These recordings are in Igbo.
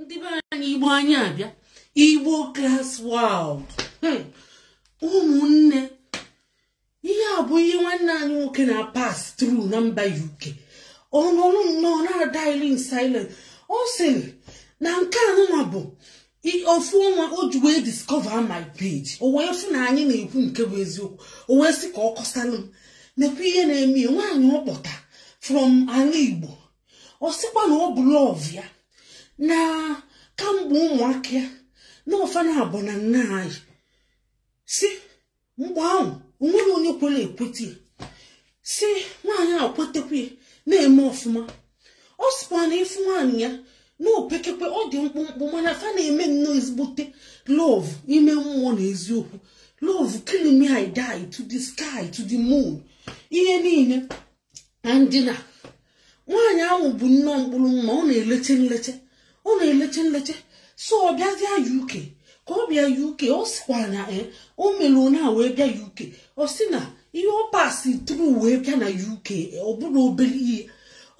ndị be anyị igbo anyị abịa igbo class world hmm. ụmụnne ihe a bụ ihe nwanne anyị nwoke na-apass through na mba uk ọ nọrọ nnọọ na-adaili in silence ọ sịrị na nke anụnwa bụ ofu ọnwa o ji wee discover my page o wee fụ na anyị na-ekwu nke bụ eziokwu o wee sị ka ọ kọsalụ m nekwa ihe na-eme ya nwaanyị ọ kpọta from ala igbo ọ sịkwa na ọ bụ love ya na kamgbe ụmụaka ya na ọ fa naabọ na nna anyị si mgbe ahụ o nwere onye kwere ekweta ya si nwaanyị a kwetekwa ya na-eme ọfụma ọ sịkwa na ị fụ nwaanyị ya na opekekwe ọ dị mkpụmkpụ mana fa na-eme nnọọ ezigbote love ime mmụọ na eziokwu love kill me I die to the sky to the moon ihe niile and na nwaanyị ahụ bụ nnọọ mkpụrụ mma ọ na-eleche nleche ọ na-eleche nleche so ọ bịazịa uk ka ọ bịa uk ọ sịkwa na e o mere onye a wee bịa uk ọ sị na ihe ọ pass through wee bịa na uk ọ bụrọ obere ihe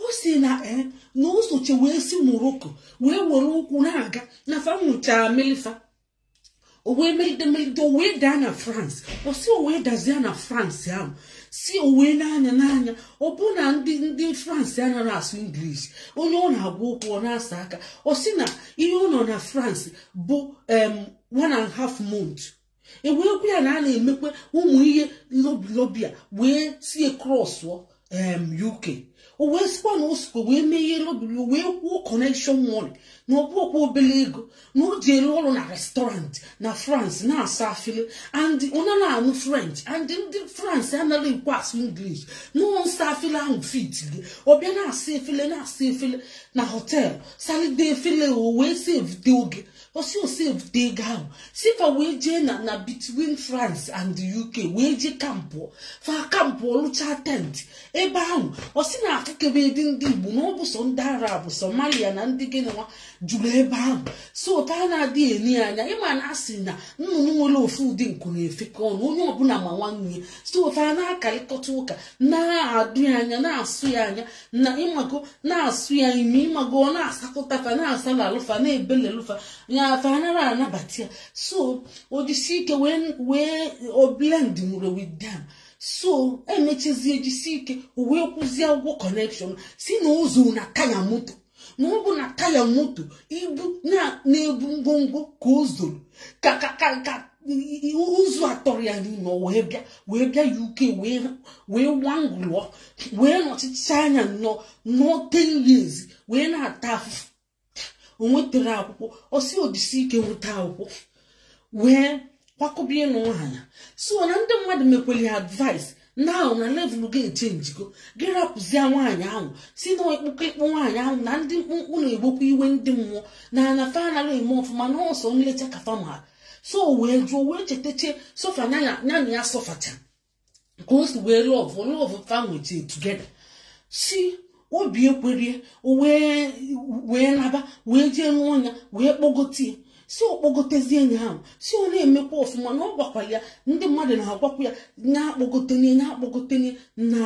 ọ sị na e na o soche wee si morocco wee were ụkwụ na-aga na fa nwụchara mili fa o wee meride meride o wee daa na france ọ sị o wee dazie na france ahụ si o wee na-anya na-anya ọ bụ na ndị ndị france anaghị asụ english onye ọ na-agwa okwu ọ na-asa aka ọ sị na ihe ọ nọ na france bụ em one and half month e wee gwa ya na a na-emekwa ụmụ ihe lobby a wee sie crossụọ UK o wee sịkwa na o sikwa wee mee ihe lobby o wee kwuo connection money na ọ bụkwa obere ego na o jelu ọrụ na restaurant na France na-asa afele and ọ nara anụ French and ndị France anaghị ekwe asụ English na nsa afele ahụ fit gị ọ bịa na-asa efele na-asa efele na hotel salide efele o wee sevute oge ọ sị o sevute ego ahụ si fa wee jee na na between france and the uk wee jee campụọ fa campụọ lụcha tent ebe ahụ ọ sị na afụkebedị ndị igbo na ọ bụ sọ ndị arab somalia na ndị gịnịwa juru ebe ahụ so fa na-adị ene ya anya ị ma na a sị na nnụnụ nwere ofu ụdị nku na-efekọ ọnụ onye ọbụla ma nwanne ya so fa na-akarịkọta ụka na-adụ ya anya na-asụ ya anya na ịmago na-asụ ya imi ịmago ọ na-asakọta fa na-asalalụ fa na-ebelelụ fa ya fa anara anabata ya so o jisi ike wee wee o blend mụrụ with them so emechazie jisi ike wee kwụzie ụgwọ connection sị na o zoo na taya moto na ọ bụ na taya moto ibu na-ebu ngwongwo ka o zoro ka ka ka ka ụzọ atọrọ ya n'ime wee bịa wee bịa UK wee wee wangụlụọ wee nọchicha anya nọ nọọ 10 years wee na-ata afụfụ o nwetara akwụkwọ ọ sị o jisi ike nweta akwụkwọ wee kwakọba ịnụ nwaanyị a so na ndị mmadụ mekwere ya advice now na level gị echenjigo gị rapụzie nwaanyị ahụ sị na ịkpụkọ ịkpụ nwaanyị ahụ na ndị mkpụmkpụ na-ebukwa iwe ndị mmụọ na na fa anaghị eme ọfụma na ọ sọ nlecha ka fa ma so wee jụọ wee chetache suffer ya na ya sọfacha ka o si wee love love fa nwechi together sị obi ekwerie wee naba wee jee nụọ ya wee kpọgote ya sị ọ kpọgotezie enyi ahụ sị ọ na-emekwa ọfụma na ọ gwakwara ya ndị mmadụ na-agwakwa ya nya kpọgote nya nya kpọgote nya na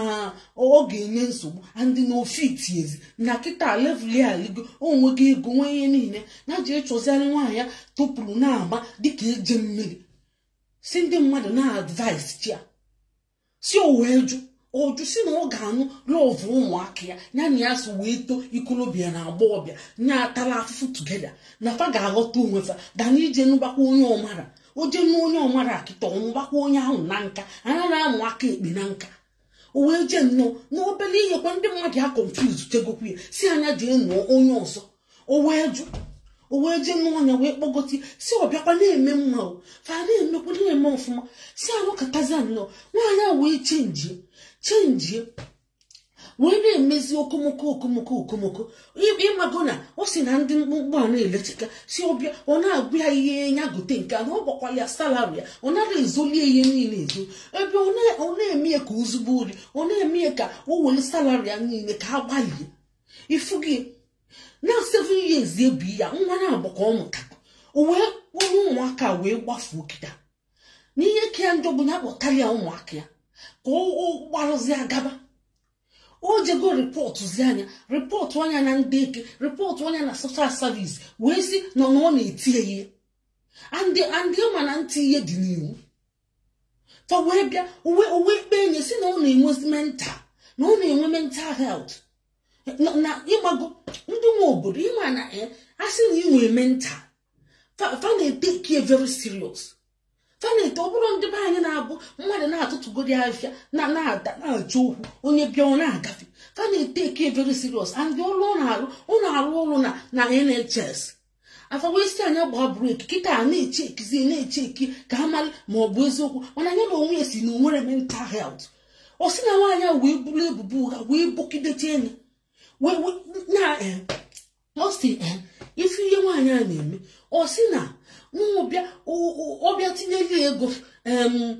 ọ ga-enye nsogbu and na o fitiezi na kịta level ya alịgo o nwego ego nwee ihe niile na ji ịchọziarị nwaanyị ya topụrụ na-agba dịka eje mmiri sị ndị mmadụ na-advisechi ya sị o wee jụ ọjụ sị na ọ ga-anụ love ụmụaka ya ya na ya so wee too ikolobịa na agbọọbịa nya atala afụfụ together na fa ga-aghọta onwe fa than ije nụbakwa onye ọ mara o je nụ onye ọ mara kịta ọ nụbakwa onye ahụ na nka anara amụ aka ekpe na nka o wee jee nụọ n'obele ihe kwa ndị mmadụ ya confuse chegokwu ya sị nya jee nụọ onye ọzọ o wee jụ o wee jee nụọ nya wee kpọgote sị ọ bịakwa na-eme mma o fa na-emekwa na-eme ọfụma sị a nọkatazị anọ nwaanyị a wee chenjie chenjie wee na-emezi okomoko okomoko okomoko ị mago na ọ sị na ndị mkpụmkpụ a na-elechika sị ọ bịa ọ na-agwa ya ihe ya gote nke a na ọ gwakwala ya salary ya ọ nara ezolie ihe niile ezo ebe ọ na-eme ya ka o zugbuo ori ọ na-eme ya ka o were salary ya niile ka a gbalie ị fụgo na seven years ebi ya nwa naabọ ka ọ mụta o wee kpọrọ ụmụaka wee gbafuo kịta n'ihe ka ya njọ bụ na akpọtara ya ụmụaka ya ka ọ gbarụzi agaba o jego reportzia nya reportụa nya na ndị eke reportụa nya na social service wee sị na ọ na-eti ya ihe and and ị ma na nti ihe dị n'iwu fa wee bịa o wee o wee kpee nye sị na ọ na-enwezi mental na ọ na-enwe mental health na ị mago ndị nwe obodo ị ma na eh, a sị na i nwe mental fa na-etake ya very serious fa na-ete ọ bụrụ ndị be anyị na-abụ mmadụ na-atụtụgodi afịfịa na a da na-ajụ okwu onye bịa ọ na-agafe fa na-etake ya very serious and ọrụ ọ na-arụ ọ na-arụ ọrụ na NHS afa wee sị nya gbaa break kịta a na-echeki na-echeki ka a mara ma ọ bụ eziokwu mana nya na onwe ya sị na o nwere mental health ọ sị na nwaanyị a wee buru ebubo ụgha wee bokidete nya wee wee na eh, ọ sị eh, ị fụ ihe nwaanyị a na-eme ọ sị na n'ụbịa o- o- ọ bịa tinyeli ego em,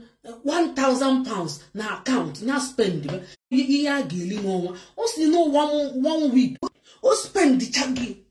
1000 pounds na account na spend ya, ihe a ga-eli n'ọnwa ọ sị na one one week o spend chagi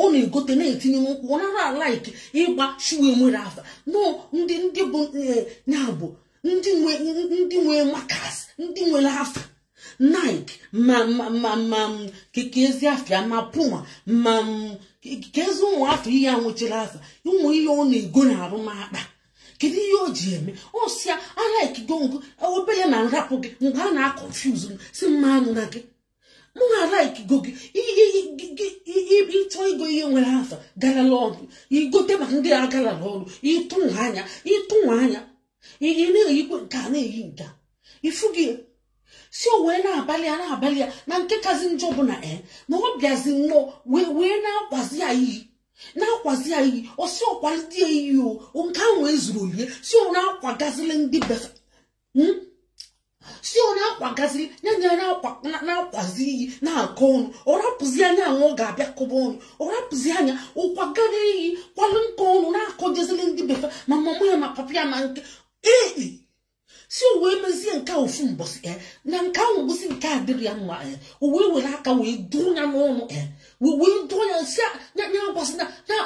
ọ na-egote na-etinye n'ụkwụ ọ nara alike ịgba shoe enwere afa no ndị ndị bụ ya bụ ndị nwe ndị nwe makas ndị nwere afa Nike ma ma ma ma keke ezi afịa ma Puma ma keke ezi ụmụ afa ihe a nwechara afa ụmụ ihe ọ na-ego na arụ m akpa kedu ihe o ji eme ọ sị ya alikego m gị obele ma m rapụ gị mgbe a na-aconfuse m sị mụ anụna gị mụ alikego gị ị chọ igo ihe nwere afa galala ọnụ i gote maka ndị a galala ọnụ ịtụ nwa anya ịtụ nwa anya ị na-eyikwe nke a na-eyi nke a ị fụ gị sị o wee na-abalị ya na-abalị ya na nke kazi njọ bụ na e na ọ bịazi nnọọ wee wee na-akwazi ya iyi na-akwazi ya iyi ọ sị ọ kwalite ya iyi o nke ahụ ezuru olie sị ọ na-akwagazili ndị be fa hmm? sị ọ na-akwagazi ya na ya na-akwazi iyi na-akọ ọnụ ọ rapụzia nya ahụ ọ ga-abịa kọba ọnụ ọ rapụzia nya ọ kwagara iyi kwalụ nke ọnụ na-akọjezili ndị be fa ma mama ya ma papa ya ma nke ee sị o wee mezie nke a ofu mbọsị e na nke ahụ gosi nke a dịrị ya mma e o wee were aka wee dụọ nya n'ọnụ e wee dụọ nya sị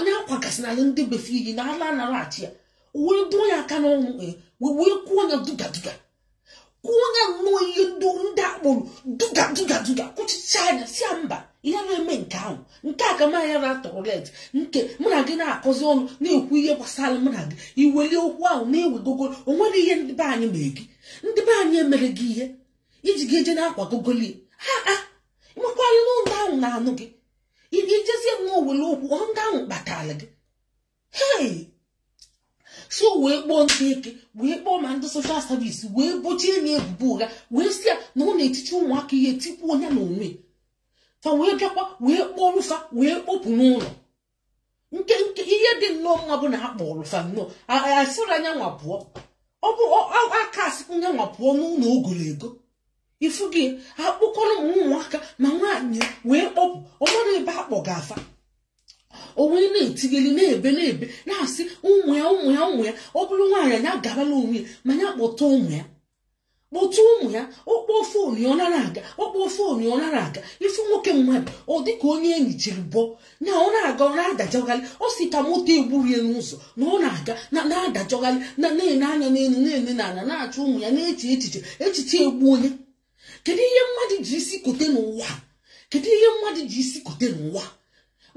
nya akwagasịnala ndị be fa iyi na ala anara achi ya wee dụọ ya aka n'ọnụ eh, wee wee kwuo ya duga duga kwuo ya nnọọ ihe ndị ndị a kpọrọ duga duga duga kwuchichaa nya sị ya mba ihe ị na-eme nke ahụ nke a ka m aya na-atolerate nke mụ na gị na-akọzi ọnụ na-ekwu ihe gbasara mụ na gị i weli okwu ahụ na-ewegogo o nwere ihe ndị be anyị mere gị ndị be anyị emere gị ihe i ji ga eje na-akwagogoli ha a ị makwala na ndị ahụ na-anụ gị ị ga-ejezie na o nwere okwu ọ ndị ahụ kpatara gị hei so wee kpọọ ndị eke wee kpọọ ma ndị social service wee bochie nya ebubo ụgha wee sị ya na ọ na-etiti ụmụaka ihe tikwuo nya na onwe fa wee bịakwa wee kpọrọ fa wee kpọpụ n'ụlọ nke nke ihe dị nnọọ mma bụ na a kpọrọ fa nnọọ asịrọ nya nwa pụọ ọ bụ a ka-asịkwu nya nwa pụọ n'ụlọ o golo ego ị fụ gị a kpọkọrọ ụmụaka ma nwaanyị wee kpọpụ ọ marọ ebe a kpọga fa o wee na-etigeli na-ebe na-ebe na-asị ụmụ ya ụmụ ya ụmụ ya ọ bụrụ nwaanyị nya gabala onwe ya ma nya kpọta ụmụ ya kpọtụ ụmụ ya ọ kpọọ phone ya ọ nara aga ọ kpọọ phone ya ọ nara aga ị fụ nwoke mmadụ ọ dịka onye enyi chiri bọ na ọ na-aga ọ na-adajọgharị ọ sị ka moto egburu ya n'ụzọ na ọ na-aga na-adajọgharị na-ene anya n'elu na-ene n'ala na-achọ ụmụ ya na-eche echiche echiche egbu onye kedu ihe mmadụ ji isi kote n'ụwa kedu ihe mmadụ ji isi kote n'ụwa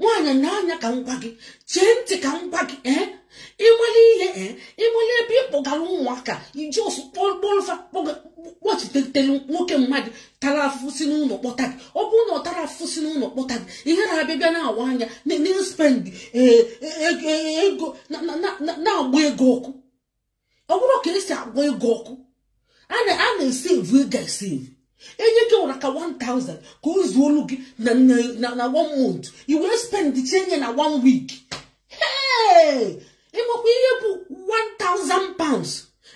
nwaanyị na-anya ka m gwa gị chee ntị ka m gwa gị ee ị mali ihe ee ị mali ebe ị kpọgara ụmụaka i ji ọsọ kpọlụ fa kpọchitetelu nwoke mmadụ tara afụfụ si n'ụlọ kpọta gị ọ bụrụ na ọ tara afụfụ si n'ụlọ kpọta gị i wee na-abịa bịa na-awa anya na-spend ego na-agba ego ọkụ ọ bụrụ ka e si agba ego ọkụ a na-esevu ego esevu enye gị ihe ra ka 1000 ka o zuolu gị na one month i wee spend chaa nya na one week ị makwa ihe bụ 1000 pounds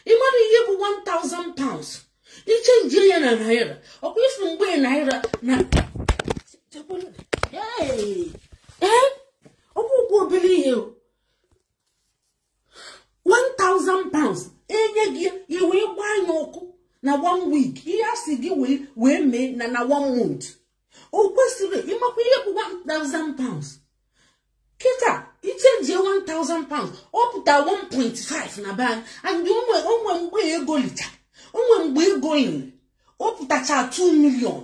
ị mara ihe bụ 1000 pounds ị chenjie ya na naira ọkwa ị fụ mgbe naira na ọ bụrọ obere ihe 1000 pounds e nye gị i wee gbaa nya ọkụ na one week ihe a sị gị wee mee na na one month o kwesịrị ị makwa ihe bụ 1000 pounds kịta ị chenjie 1000 pounds ọ pụta 1.5 na be anyị and o nwe mgbe ego licha o nwe mgbe ego liri ọ pụtacha 2 million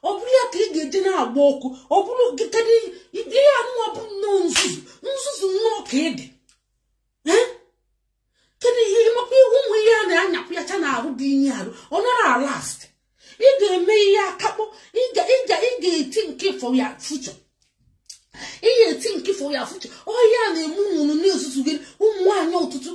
ọ bụrụ ya ka ị ga-eji na-agba ọkụ ọ bụrụ gị kedụ ihe anụwa bụ nnọọ nzuzu nzuzu nnọọ ka ị dị kedu ihe ị makwa ị hụ ụmụ ihe a na-anyapụ ya cha n'arụ tinye arụ ọ nara alast ị ga-eme ihe akakpọ ị ga-ethink for your future ị ga-ethink for your future ọ ya na-eme unu na-ezuzugharị ụmụ nwaanyị ọtụtụ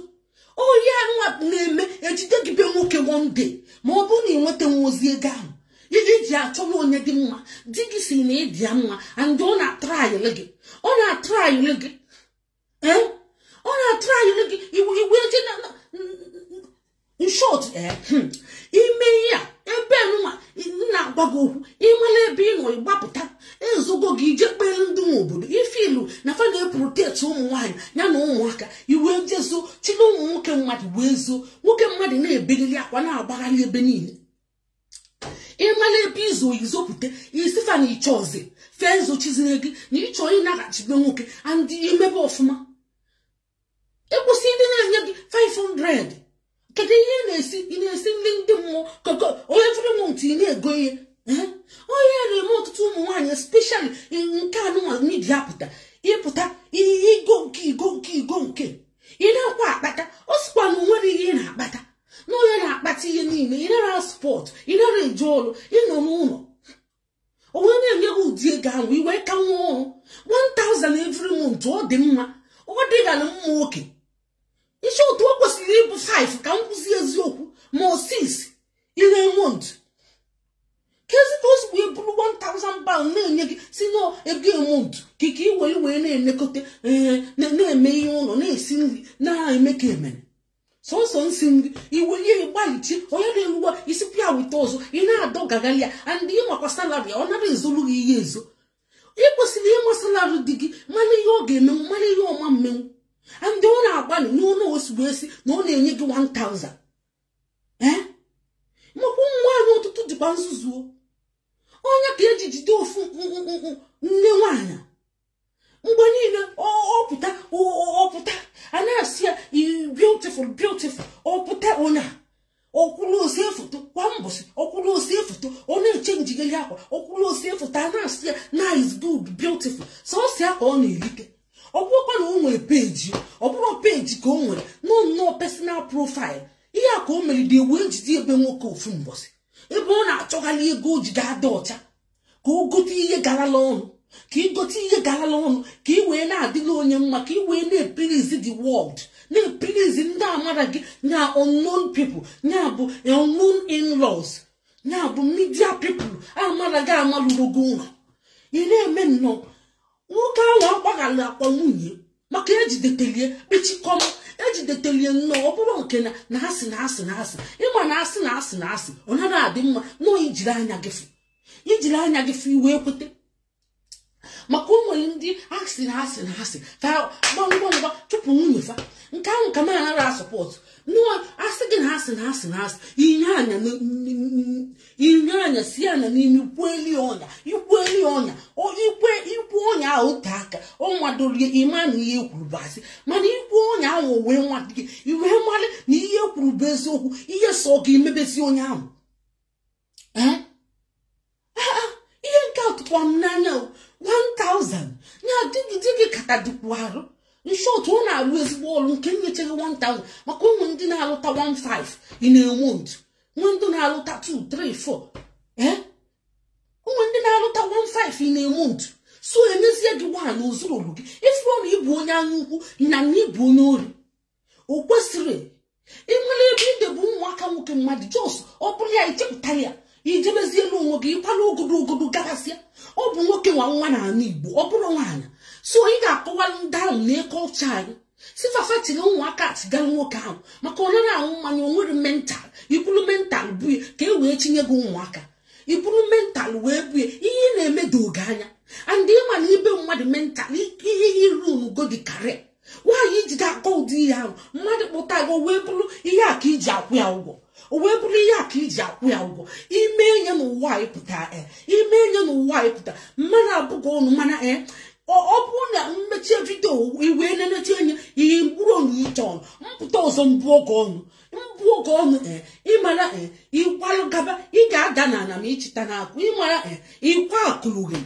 ọ ya nwa na-eme e jide gị be nwoke one day ma ọ bụrụ na ị nweta nwa ozi ego ahụ i ji achọwa onye dị mma di gị sị na ị dị ya mma and ọ na-atrayịlị gị ọ na-atrayịlị gị eh? ọ na-atrayịlị gị i wee je in short eh? hmm. i me ihe a ebe nwa m na-agwa gị okwu ị mala ebe ị nọ ị gbapụta ezogo gị i jekwuru ndị nwe obodo ị fụlụ na fa na-eprotect ụmụ nwaanyị ya na ụmụaka i wee je zoo chịlị ụmụ nwoke mmadụ wee zoo nwoke mmadụ na-ebeliri akwa na-agbagharị ebe niile ị mala ebe i zoro i zopụta ị sị fa na ị chọ ọzọ fee zochizire gị na ị chọ ịnaghachi be nwoke and i mebe ọfụma ịkwụsị ndị na-enye gị 500 kedu ihe ị na-esi ị na-esi ndị ndị mmụọ koko onye every month ị na-ego ihe Eh? ọ ya na-eme ọtụtụ ụmụ nwaanyị especially nke anụnwa media pụta ị pụta ihe i go nke i go nke i go nke ị nakwa akpata ọ sịkwa na o nwere ihe ị na-akpata na onye na-akpata ihe niile ị nara support ị nara eje ọrụ ị nọ n'ụlọ o wee na-enye gị ụdị ego ahụ i wee ka nwa ọrụ 1000 every month ọ dị mma ọ dịghara mma ok in short o kwesịrị ịbụ 5 ka m kwuzie eziokwu ma ọ 6 in a month kezi ka o si wee bụrụ 1000 pound na-enye gị sị na ego a month ka ị ka ị wee na-elekọta na-eme ihe ụlọ na-esi nri na-eme ka e mere sọsọ isi nri iwelie gbalịchi oge na-eruwa i si pịa wite ọzọ ị na-adọ gagharị ya and ị makwa salary ya ọ nara ezolu gị ihe ezo ị kwesịrị ịma salary di gị mana ihe ọ ga-emenwu mana ihe ọ ma mmenwu and ọ na-agbalị n'ụlọ osigbo esi na ọ na-enye gị 1000 ee maka ụmụ nwaanyị ọtụtụ dịkwa nzuzu o ọ nya ka e ji jide ofu nnukwu nne nwaanyị mgbe niile ọ pụta ọ pụta a na-asị ya beautiful beautiful ọ pụta onye a ọ kwụrụ o see foto kwa mbọsị ọ kwụrụ o see foto ọ na-echenjigeli akwa ọ kwụrụ o see foto a na-asị ya nice good beautiful sọsọ ya ka ọ na-erite ọ bụrọkwa na o nwere page ọ bụrọ page ka o nwere no no personal profile ihe a ka o meride e wee jide ebe nwoke ofu mbọsị ebe ọ na-achọgharị ego o ji ga-adị ọcha ka o gote ihe garala ọnụ ka ị gote ihe garala ọnụ ka ị wee na-adịlị onye mma ka ị wee na-epilizi the world na-epilizi ndị amara gị na unknown people ya bụ unknown in-laws ya bụ media people amara gị amalụrogo ụlọ ị na-eme nnọọ nwoke ahụ agbaghalakwa nwunye maka e jidetelie kpechikọm e jidetelie nnọọ ọ bụrọ nke na na a sị na a sị na a sị ị ma na a sị na a sị na a sị ọ nara adị mma no i jiri anya gị fụ i jiri anya gị fụ i wee kwete maka o nwere ndị a sị na a sị na a sị ka fa ngwa ngwa chụpụ nwunye fa nke ahụ ka m na-anara asupport no a sị gị na a sị na a sị na a sị inye anya inye anya si ya na n'ime i kwueli onye a i kwueli onye a i kwe i kwu onye a ote aka ọ madorie ị ma na ihe kwuru bụ asị mana i kwu onye ahụ wee nwa gị i wee malị na ihe kwuru bụ eziokwu ihe sọ gị i mebezie onye ahụ ihe nke a tụkwara m n'anya 1000 ya di gị di gị kata dịkwu arụ in short ọ na-arụ ezigbo ọrụ nke nyechaa gị 1000 maka o nwe ndị na-alụta 15 in a month nwe ndị na-alụta 2 3 4 ee nwe ndị na-alụta 1 5 in a month so e mezie gị nwaanyị o zurọlu gị ị fụrụ na ị bụ onye anya ukwu na na ị bụ onye ori o kwesịrị ịmara ebe idebe ụmụaka nwoke mmadụ just ọ bụrụ ya i chepụta ya i jebezielu onwe gị ị kwala ogodo ogodo gabasịa ọ bụ nwoke nwe nwa n'ala igbo ọ bụrọ nwaanyị so ị ga-akọwara ndị ahụ na culture anyị sị fa fa tiri ụmụaka atigara nwoke ahụ maka ọ nara aṅụ mmanya onwere mental iburu mental buye ka e wee chịnye gị ụmụaka iburu mental wee buye ihe ị na-eme doo gị anya and ịma na ibe mmadụ mental ihe iru go dị karịa nwaanyị iji ga-akọ ụdị ihe ahụ mmadụ kpọta gị wee bụrụ ihe a ka iji akwụ ya ụgwọ o wee bụrụ ihe a ka iji akwụ ya ụgwọ ime ihe nụwa anyị pụta e ime ihe nụwa anyị pụta m na-abụ gị ọnụ mana e ọ bụrụ na m mechie vidio i wee na-enechi enye ihe mkpụrụ ọnụ iche ọnụ m pụta ọzọ m bụọ gị ọnụ m bụọ gị ọnụ e ịma na e ịkwalụ gaba ị ga-ada n'ala ma ịchịta n'akụ ịma na e ịkwa akụlụghị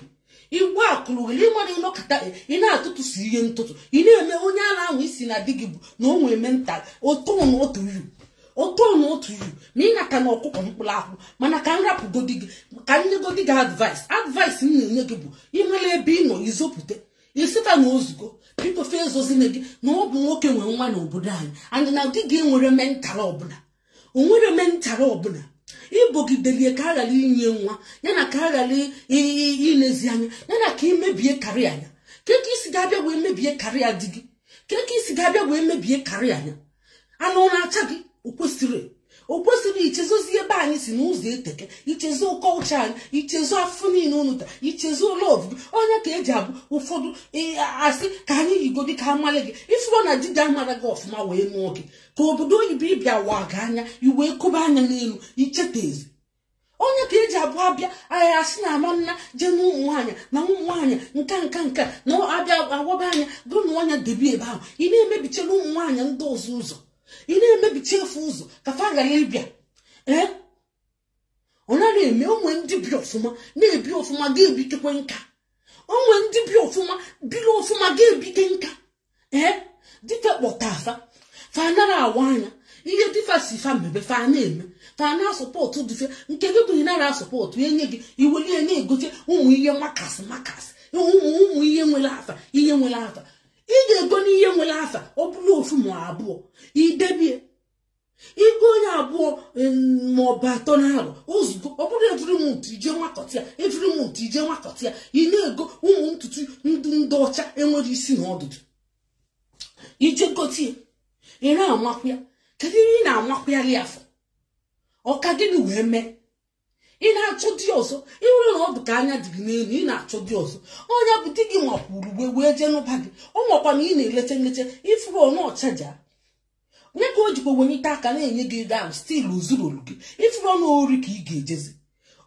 igbu akụrụ gị ịma na ịnọkọta ị na-atụtụsi ihe ntụtụ ị na-eme onye ala anwụ isi na di gị bụ na o nwere mental ọkọ n'ọtụ yu ọkọ n'ọtụ yu ma ị naka na ọkụkọ mkpụrụ akwụ mana ka m rapụgodi gị ka m nyegodi gị advice advice m na-enye gị bụ ịmara ebe ị nọ izopụta isita na ozugbo biko fee ezozine gị na ọ bụ nwoke nwe nwa n'obodo anyị and na di gị enwere mental ọbụla onwere mental ọbụla ibogideli ya ka a ghara inye ya nwa ya na ka a ghara ilezi anya ya na ka imebie career anya kee ka isi ga-abịa wee mebie career di gị kee ka isi ga-abịa wee mebie career anya anụ na-acha gị o kwesịrị o kwesịrị ichezozi ebe anyị si na ụzọ eteka ichezo culture anyị ichezo afụfụ niile unu ta ichezo lọv gị onye ka eji abụ ụfọdụ asị ka anyị yigodi ka amale gị ifụrụ na di gị amara gị ọfụma wee nụọ gị ka obodo oyibo ịbịa wa gị anya i wee kobe anya n'elu ichetazi onye ka eji abụ abịa anyị asị na ama nna jee na ụmụ nwaanyị na ụmụ nwaanyị nka nka nka na abịa awaba anya gụ na ọnya debe ebe ahụ ị na-emebichela ụmụ nwaanyị ndị ọzọ ụzọ ị na-emebichi fa ụzọ ka fa ghara ịbịa ee ọ nara eme onwe ndị bi ọfụma na-ebi ọfụma ga-ebitekwe nka onwe ndị bi ọfụma biri ọfụma ga-ebite nka ee di fa kpọta fa fa nara awa anya ihe di fa sị fa mebe fa na-eme fa na-asọpọtụ di fa nke gị bụ ị nara asọpọtụ enye gị iweli ya na-egote ụmụ ihe makasị makasị ụmụ ụmụ ihe nwere afa ihe nwere afa ị ga-ego n'ihe nwere afa ọ bụrụ ofu ma abụọ idebie ịgonye abụọ maọbụ atọ n'arụ ozugbo ọ bụrụ evri mont ije nwakọta ya evri mont ije nwakọta ya ị na-ego ụmụ ntutu ndị ọcha enwere isi na ọdụdụ ije gote ya ị na-amakwa ya kedu ihe ị na-amakwali afọ ọ ka gịnị wee mee ị na-achọ di ọzọ ịhụrụ na ọ dị ka anya dị gị n'elu ị na-achọ di ọzọ onye bụ di gị makwuru uwe wee jee nụba gị ọ makwa na ị na-eleta nlecha ifuru ọnụ ọchaja onye ka o jikwa wenye ite aka na-enye gị ego ahụ stil o zuru olu gị ifuru ọnụ ori ka ị ga-ejezi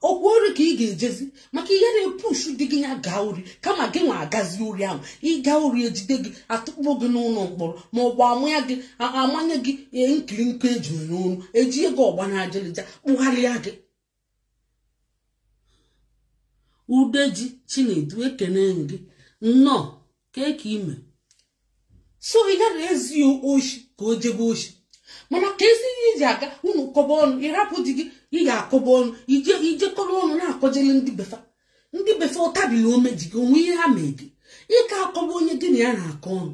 okwu ori ka ị ga-ejezi maka ihe na-epushu di gị ya gaa ori kama gị nwa agazi ori ahụ ịga ori ejide gị atụkpọ gị n'ụlọ mkpọrọ ma ọ bụ amanye gị amanye gị e, nkịrịkọ eju n'onu eji ego ọgba na ajalịja kpụgharịa gị udeji chinedu ekene m gị nnọọ kee ka ime so ị gara ezi ya oshi ka o jebe oshi mana ka ezi ihe iji aga unu kọba ọnụ ịrapụ di gị ị ga-akọba ọnụ ijekọrọ ọnụ na-akọjele ndị befa ndị befa ụtabili ome ji gị o nwe ihe ha mee gị ị ka akọba onye gị na ya na-akọ ọnụ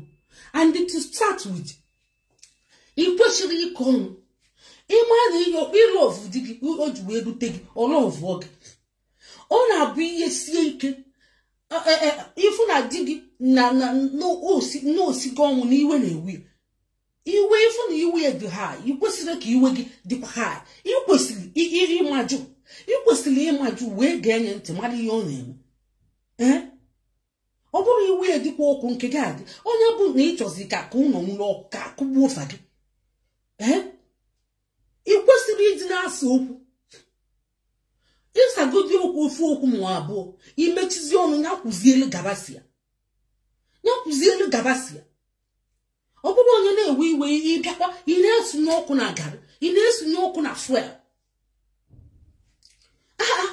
and to start with ị kwesịrị ịkọ ọnụ ị ma na ị lọvụ di gị o ji wee lụta gị ọ lọvụ gị ọ na-abụ ihe sie ike ịfụ na di gị na o sigo ọnwụ na iwe na-ewe ya iwe ịfụ na iwe ya dị high ị kwesịrị ka iwe gị dịkwa high ị kwesịrị iri ịmajụ ị kwesịrị ịmajụ wee gee nya ntị mara ihe ọ na-eme ee ọ bụrụ iwe ya dịkwa ọkụ nke gị adị onye bụ na ị chọzi ka ka ụlọ nwuru ọkụ ka akụgbuo ụfa gị ee ị kwesịrị ịdị na-asa okwu ịsagodi okwu ofu okwu ma abụọ imechizi ọnụ ya kwuzielu gabasia ya kwuzielu gabasia ọ bụrụ onye na-ewe iwe ịbịakwa ị na-esunye ọkụ na garị ị na-esunye ọkụ na fuel aa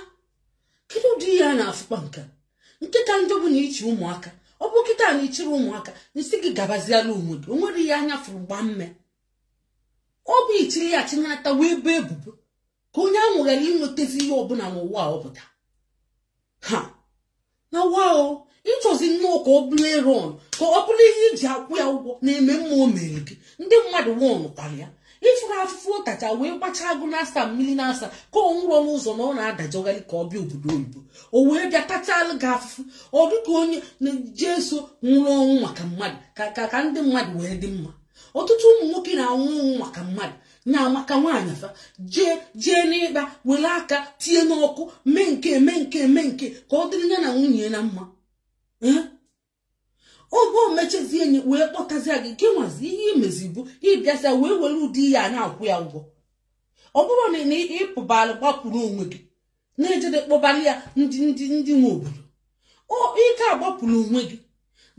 kedu ụdị ihe a na-afụkwa nke a? nke ka njọ bụ na ị chị ụmụaka ọ bụ kịta na ị chịrị ụmụaka m sị gị gabaziala onwe gị o nwerọ ihe anya fụrụ gbaa mmee ọ bụ ichiri ya chinata wee boo ya ebubo ka onye ahụ ghara inwetazi ihe ọbụla n'ụwa ọ pụta ha na wao ịchọzi nnọọ ka ọ bụrụ eron ka ọ bụrụ ihe iji akwụ ya ụgwọ na mma o mere gị ndị mmadụ wọnụkwara ya ị fụrụ afụfụ ọ tachaa wee gbachaa agụ naasaa mmiri naasaa ka ọ nwụrọ n'ụzọ na ọ na-adajọgharị ka ọ bịa obodo oyibo o wee bịa tachalụ gị afụfụ ọ dị ka onye jesu nwụrụ ọnwụ maka mmadụ ka ka ndị mmadụ wee dị mma ọtụtụ ụmụ nwoke na-anwụ ọnwụ maka mmadụ na maka nwaanyị fa jee jee n'ịkpa were aka tinye n'ọkụ mee nke mee nke mee nke ka ọ dịrị ya na nwunye ya mma oge o mechazie enyi wee kpọtazie gị gị nwazi ihe i mezi bụ ị bịazịa wee were ụdị ihe a na-akwụ ya ụgwọ ọ bụrụ na ị pụbara gbapụrụ onwe gị na-ejede kpọbara ya ndị ndị ndị nwe obodo ọ ị ka agbapụrụ onwe gị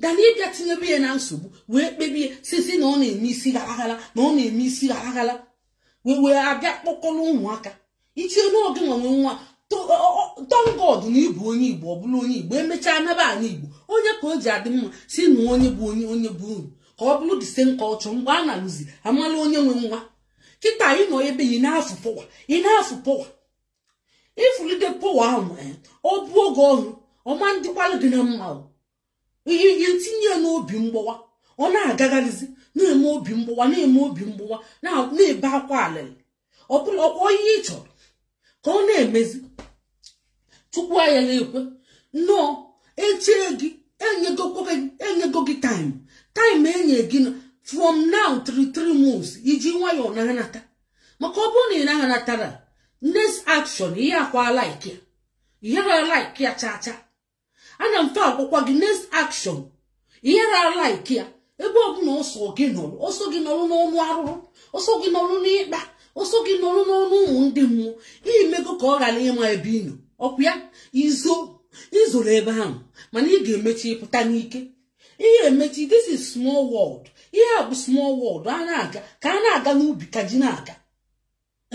than ịbịa tinyebe ya na nsogbu wee kpebie sisi na ọ na-eme isi gharaghala na ọ na-eme isi gharaghala wee wee abịa kpọkọrọ ụmụaka i chere na ọ gị nwa nwe nwa thank God na ị bụ onye igbo ọ bụrụ onye igbo emechaa naba ala igbo ọ ya ka o ji adị mma si na onye bụ onye onye be unu ka ọ bụrụ the same culture mgbe a na-alụzi a mala onye nwe nwa kịta ị nọ ebe ị na-ashow power ị na-ashow power ifulite powa ahụ eh, ọ bụ oge ọhụrụ ọ ma-adịkwalụ gị na mma i i tinye ya n'obi mgbawa ọ na-agagharịzi na-eme obi mgbawa na-eme obi mgbawa na-ebe akwa alịlị ọ bụrọkwa ihe ị chọrọ ka ọ na-emezi chukwu anyị na-ekwe nnọọ echee gị enyego gị time time enye gị from now three three months iji nwayọọ na-anata maka ọ bụrụ na ị naghị anatara next action ihe akwa like ya ihe ra like ya cha cha ana m agwakwa gị next action ihe ra like ya ebe ọbụla ọ sọ gị nọrọ ọ sọ gị nọrọ n'ọnụ arụrụ ọ sọ gị nọrọ n'ịkpa ọ sọ gị nọrọ n'ọnụ ụmụ ndị mmụọ i mego ka ọ ghara ịma ebe ị nọ ọkwa ya izo izoro ebe ahụ mana ị ga-emechi ịpụta n'ike ihe emechi this is small world ihe a bụ small world a na-aga ka a na-aga n'ubi ka ji na-aka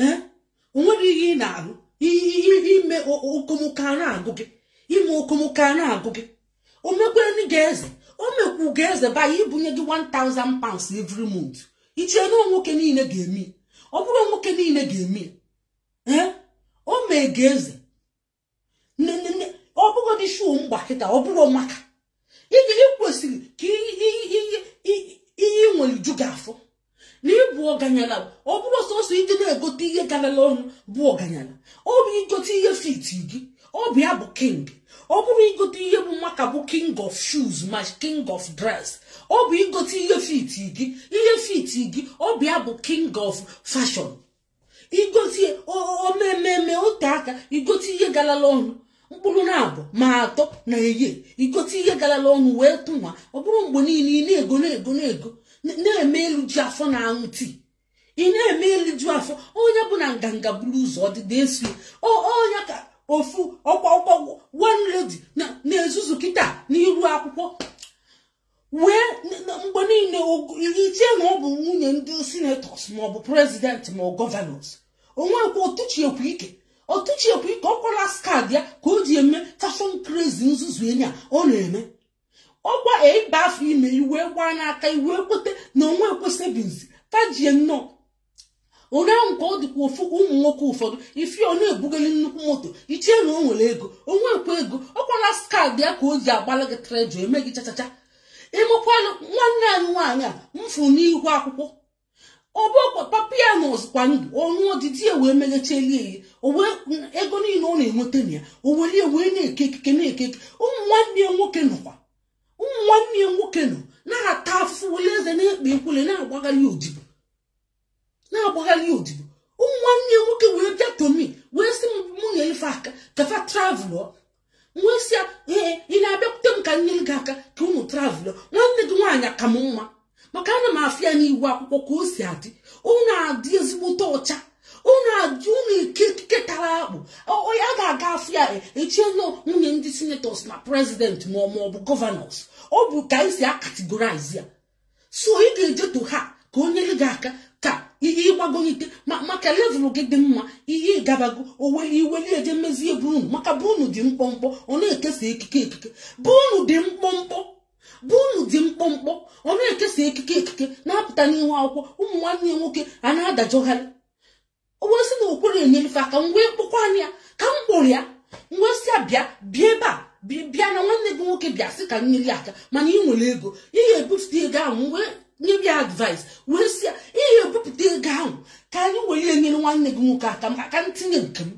eh? o nwere ihe ị na-arụ ime okomoko a na-agụ gị ime okomoko a na-agụ gị o mekwere gị eze o mekwu gị eze by ibunye gị 1000 pounds every month i chee na nwoke niile ga-eme ọ bụrọ nwoke niile ga-eme ya eh? o mee gị eze ọ bụrọdị shoe m gba kịta ọ bụrọ maka ị kwesịrị ka ihe i nwere ju gị afọ na ịbụ ọganyala ọ bụrọ sọsọ ịdị na-egote ihe garala ọnụ bụ ọganyala ọ bụ igote ihe fit gị ọ bụ ya bụ king ọ bụrọ igote ihe bụ maka bụ king of shoes ma king of dress ọ bụ igote ihe fit gị ihe fit gị ọ bụ ya bụ king of fashion i gote o mee mee mee o tee aka i gote ihe galala ọnụ mkpụrụ naabọ ma atọ na year i gote ihe galala ọnụ wee tụ nwa ọ bụrọ mgbe niile ị na-ego na-ego na-ego na-eme eliju afọ na-aṅụ tii ị na-eme eliju afọ ọ nya bụ na nganga buru ụzọ ọdịda eso ọ nya ka ofu ọkwa ọkwa one lady na-ezuzu kịta n'iru akwụkwọ wee mgbe niile i chee na ọ bụ nwunye ndị senators maọbụ president ma governors o nwerọkwa ọtụchiekwu ike ọtụchiekwu ike ọkwa last card ya ka o ji eme fashion crazy nzuzu enyi a ọ na-eme ọkwa ị baa afọ ime i wee gbaa n'aka i wee kweta na onwe ekwesịbinzi tajie nnọọ onye ahụ ka ọ dịkwa ofu ụmụ nwoke ụfọdụ ị fụ ọ na-ebugeli nnukwu moto i chee na o nwere ego o nwerọkwa ego ọkwa last card ya ka o ji agbala gị trejo eme gị chachacha ịmakwanụ nwanne anyị nwaanyị a m fụ n'ihu akwụkwọ ọbụkwa papa ya na-azụkwa ndụ ọnụ ọdịdị ya wee meghechelie ya o wee ego niile ọ na-enweta na ya o were ya wee na-eke ekike na-eke ekike ụmụ nwanne ya nwoke nọkwa ụmụ nwanne ya nwoke nọ na-ata afụfụ were eze na-ekpe ekwele na-agbagharị odibo na-agbagharị odibo ụmụ nwanne ya nwoke wee bịa to me wee sị m mụ nye fa aka ka fa travụlụ wee sị ya ee ị na-abịakwute m ka m nyere gị aka ka ụnụ travụlụ nwanne gị nwaanyị ka m mma maka ana m afụ ya n'ihu akwụkwọ ka o si adị ọ na-adị ezigbote ọcha ọ na-adị ọ na-eke ekike tara akpụ onye ga-aga afụ ya echie na ọ nwunye ndị senetọs na prezidenti ma ọ bụ gọvanọs ọ bụ ka anyị si akategorize ya so ị ga-eje to her ka o nyere gị aka ka ihe ịgbagolite maka levụl gị dị mma ihe ịgabago oweli i weli eje mezie be unu maka be unu dị mkpọmkpọ ọ na-ekesa ekike ekike be unu dị mkpọmkpọ be unu dị mkpọmkpọ ọ na-ekesa ekike ekike na-apụta n'ihu akwụkwọ ụmụ nwanne ya nwoke a na-adajọgharị o wee sị na o kwerọ enyelu fa aka m wee kpọkwanụ ya ka m kpọrọ ya m wee sị ya bịa bịa ebe a bi- bịa na nwanne gị nwoke bịa sị ka m nyere ya aka mana ị nwere ego ị ga-ebupụta ego ahụ m wee nye ya advice wee sị ya ị ga-ebupụta ego ahụ ka anyị were ya nyere nwanne gị nwoke aka maka ka m tinye nke m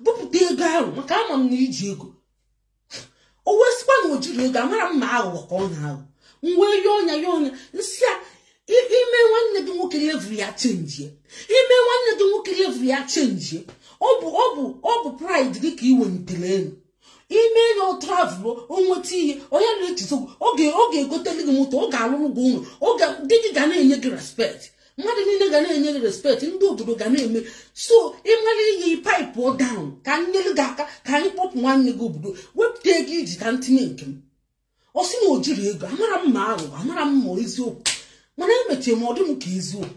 bupụta ego ahụ maka ama m na i ji ego o wee sịkwa na o jirọ ego amarọ m ma aghụghọ ka ọ na-aghọ m wee yọọnụ ya yọọnụ ya m sị ya i mee nwanne gị nwoke levụl ya chenjie i mee nwanne gị nwoke levụl ya chenjie ọ bụ ọ bụ ọ bụ praịd gị ka ị welitere elu i mee na ọ travụlụ o nweta ihe ọ ya-elote gị so ọ ga-egoteli gị moto ọ ga-alụrụ gị ụnọ di gị ga na-enye gị respekt mmadụ niile ga na-enye gị respekt ndị obodo ga na-eme so ị mara ihe paịpụ down ka m nyere gị aka ka anyị kpọpụ nwanne gị obodo wepụta ego i ji ka m tinye nke m ọ sị na o jirọ ego amarọ m ma aghụghọ amarọ m ma eziokwu mana emechie m ọ dị m ka eziokwu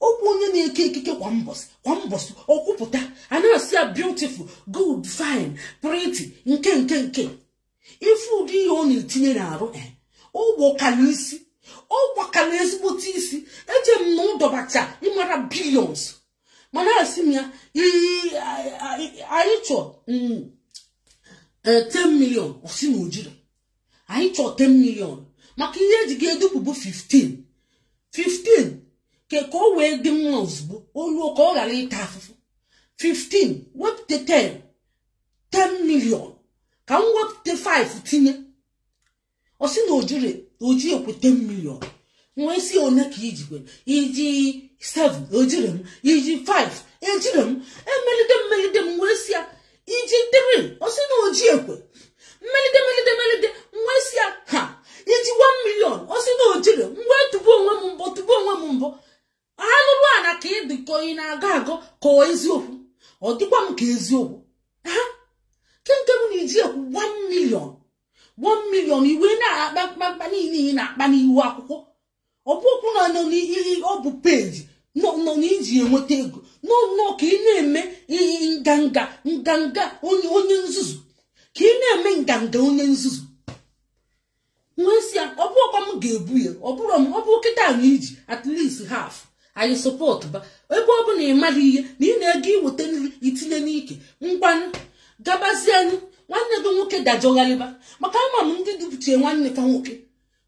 okwu onye na-eke ekike kwa mbọsị kwa mbọsị ọ kwụpụta a na-asị ya beautiful good fine pretty nke nke nke ife ụdị ihe ọ na-etinye n'arụ eh, ọ gbakala isi ọ gbakala ezigbote isi eche m na ọ dọbacha ịmara bilions mana asị m ya anyị chọ 10 mm, eh, million ọ sị na o jirọ anyị chọ 10 million maka ihe e ji ga-edupụ bụ 15 15 ka ka o wee dị mma ozugbo o lu ka ọ ghara ịta afụfụ 15 wepụta 10 10 million ka m wepụta 5 tinye ọ sị na o jirọ o jiekwe 10 million m wee sị ya one ka i jikwe i ji 7 ejirọ m i ji 5 ejirọ m emelide m melide m wee sị ya i ji 3 ọ sị na o jiekwe m melide melide melide m wee sị ya ha i ji 1 million ọ sị na o jirọ m wee tụbu onwe m mbọ tụbu onwe m mbọ alụrụ ana ka ị dịka ị na-agọ agọ ka ọ eziokwu ọ dịkwa m ka eziokwu ha kemgbe m na-eji ekwu 1 million 1 million i wee na-akpa mkpamkpa niile ị na-akpa n'ihu akwụkwọ ọ bụ okwu na nọ n'ihe ọ bụ peji nnọọ n'iji enweta ego nnọọ ka ị na-eme ihe nganga nganga onye onye nzuzu ka ị na-eme nganga onye nzuzu wee sị ya ọ bụ ọkwa m ga-ebu ya ọ bụrụ m ọ bụ kịta na iji at least half anyị sọpọtụba ebe ọ bụ na ị maghị ihe na ị na-ego iweta nri itinye n'ike ngwanụ gabazienụ nwanne gị nwoke dajọgharịba maka ama m ndị dupụchie nwanne ka nwoke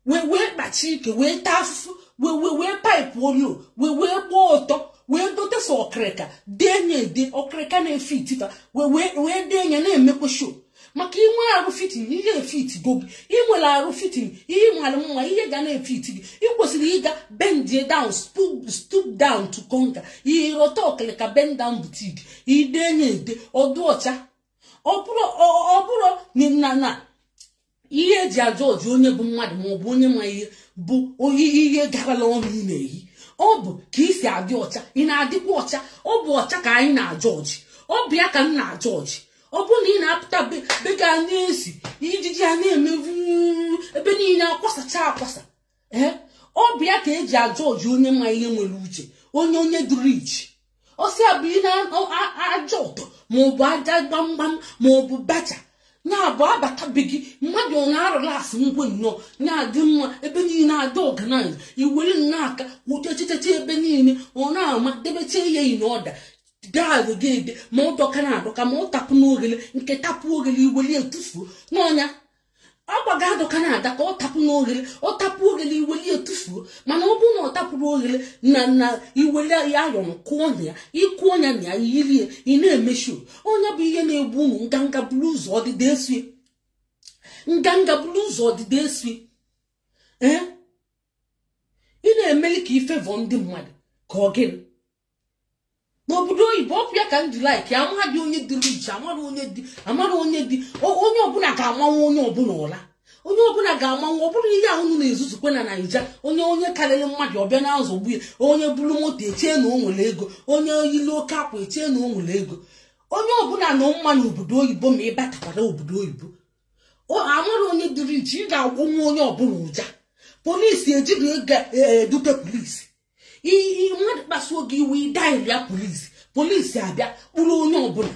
wee wee kpachi ike wee taa afụfụ wee wee wee paịpụ olu wee wee gbaa ọtọ wee gote sọ ọkịrịka denye ede ọkịrịka na-efiti fa wee wee wee denye na-emekwa show maka i nwee arụ fitting ihe efitigo gị i nwere arụ fitting ihe mara mma ihe ga na-efiti gị ị kwesịrị ịga bend down stoop down to conquer ị rọta ọkịrịka bend down boutique i denye ede ọ dị ọcha ọ bụrọ ọ- ọ bụrọ na na na ihe eji ajọọjị onye bụ mmadụ ma ọ bụ onye ma ihe bụ iyi ihe garala ọnụ ị na-eyi ọ bụ ka i si adị ọcha ị na-adịkwa ọcha ọ bụ ọcha ka anyị na-ajọọjị ọ bụ ya ka m na-ajọọjị ọ bụrụ na ị na-apụta be gị a na-esi ijiji a na-eme vu ebe niile akwasacha akwasa ee ọ bụ ya ka eji ajọọjị onye ma ihe nwere uche onye onye dị rich ọ sị ya bi n'aja ọtọ ma ọ bụ aja gbamgbam ma ọ bụ bacha na-abụ a bata be gị mmadụ ọ na-arụla asị ngwe nnọọ na-adị mma ebe niile adị organize i were nnọọ aka wụchechecheta ebe niile ọ na-ama debecha ya in order dag gị dị ma ọ dọkana adọka ma ọ tapụna oghele nke tapụrụ oghele i weli ya tufuo n'ọnya akwa gị adọkana adọka ọ tapụna oghele ọ tapụ oghele i weli ya tufuo mana ọ bụrụ na ọ tapụrụ oghele na na i weli ya ayọrọ kụọ ọnya ị kụọ ọnya na ya yiri ya ị na-eme show ọ nya bụ ihe na-egbu unu nganga buru ụzọ ọdịda esoe nganga buru ụzọ ọdịda esoe ee ị na-emeli ka ife vọ ndị mmadụ ka ọ gịnị n'obodo oyibo ọ bụ ya ka m ji like amarọdị onye dị rich amarọ onye dị amarọ onye dị o- onye ọbụla ga-amanwụ onye ọbụla ụla onye ọbụla ga-amanwụ ọ bụrọ ihe ahụ na-ezuzukwe na naija onye onye karịrị mmadụ ọ bịa na-azọgbu ya onye buru moto echee na o nwere ego onye yiri oke akwa echee na o nwere ego onye ọbụla na mma n'obodo oyibo ma ị batakwara obodo oyibo amarọ onye dị rich ị ga-agbọnwu onye ọbụla ụja polisi ejide gị eduga polisi mmadụ kpasuo gị iwe ị daịlịa polisi polisi abịa kpụrụ onye ọbụla